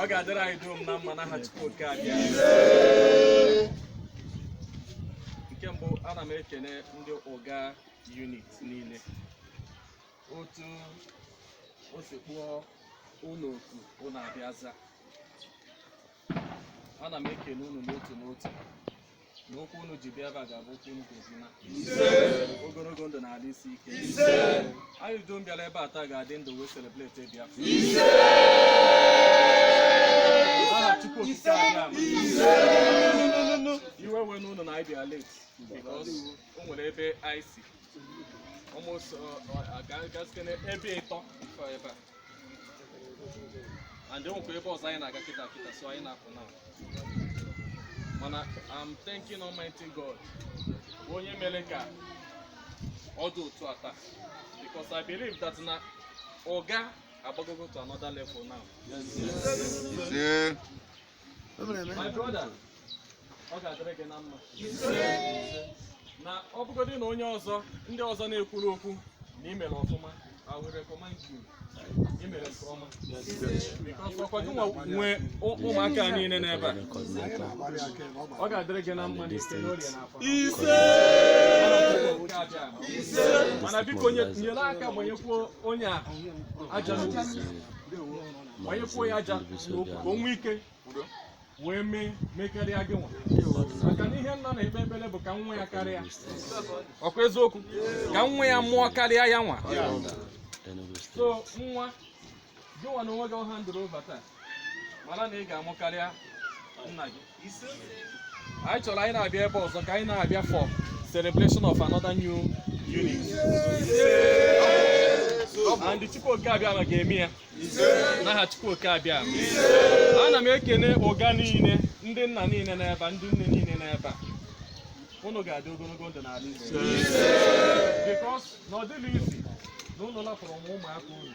ọ ga-adịrị anyị dum na mma n'aha Chukwu oke Abịama nke mbụ ana m ekene ndị Uga unit niile otu o si kpọọ unu oku unu abịa za ana m ekele unu n'otu n'otu na ụkwụ unu ji bịa ebe a ga-abụ ụkwụ unu ga-eji na ogologo ndụ na ahụ isi ike anyị dum bịara ebe a taa ga-adị ndụ wee celebrate Biafra aha Chukwu okike Abịama. iwe ewena unu na anyị bịa late because o nwere ebe anyị si almost uh, uh, aga- agasikene ebe ịtọ before ebe a and e nwekwa ebe ọzọ anyị na-aga kịta kịta so anyị na-apụ now mana I'm thanking Almighty God onye mere ka ọ dị otu a taa because I believe that na Uga agbagogo to another level now. Ise. na ọ bụgodị na onye ọzọ ndị ọzọ na-ekwuru okwu na i mere ọfụma I will recommend you i mere nke ọma because ọ kwa gị nwa nwe ụmụaka niile n'ebe a ọ ga-adịrị gị na mma n'eke n'orie n'afọ ise ise mana biko nyere aka gbanyekwuo onye a aja n'ukwu gbanyekwuo ya aja n'ukwu ka o nwee ike wee mee mekarịa gị nwa maka na ihe nna na-ekpe ekpere bụ ka nwa ya karịa ọ kwa eziokwu ka nwa ya mụọ karịa ya nwa so nwa gị nwa na onwe gị a handụrụ over taa mara na ị ga-amụ karịa nna gị anyị chọrọ anyị na-abịa ebe ọzọ ka anyị na-abịa for celebration of another new unit and Chukwuoke Abịama ga-eme ya n'aha Chukwuoke Abịama ana m ekene Uga niile ndị nna niile n'ebe ndị nne niile n'ebe a unu ga-adị ogologo ndụ n'ala Igbo because na ọ dịghị easy na unu lapụrụ nwa ụmụaka unu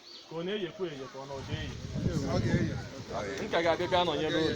ka ọ na-eyekwa eye ka ọ na ọ ga-eye m ka ga-abịa bịa nọnyere unu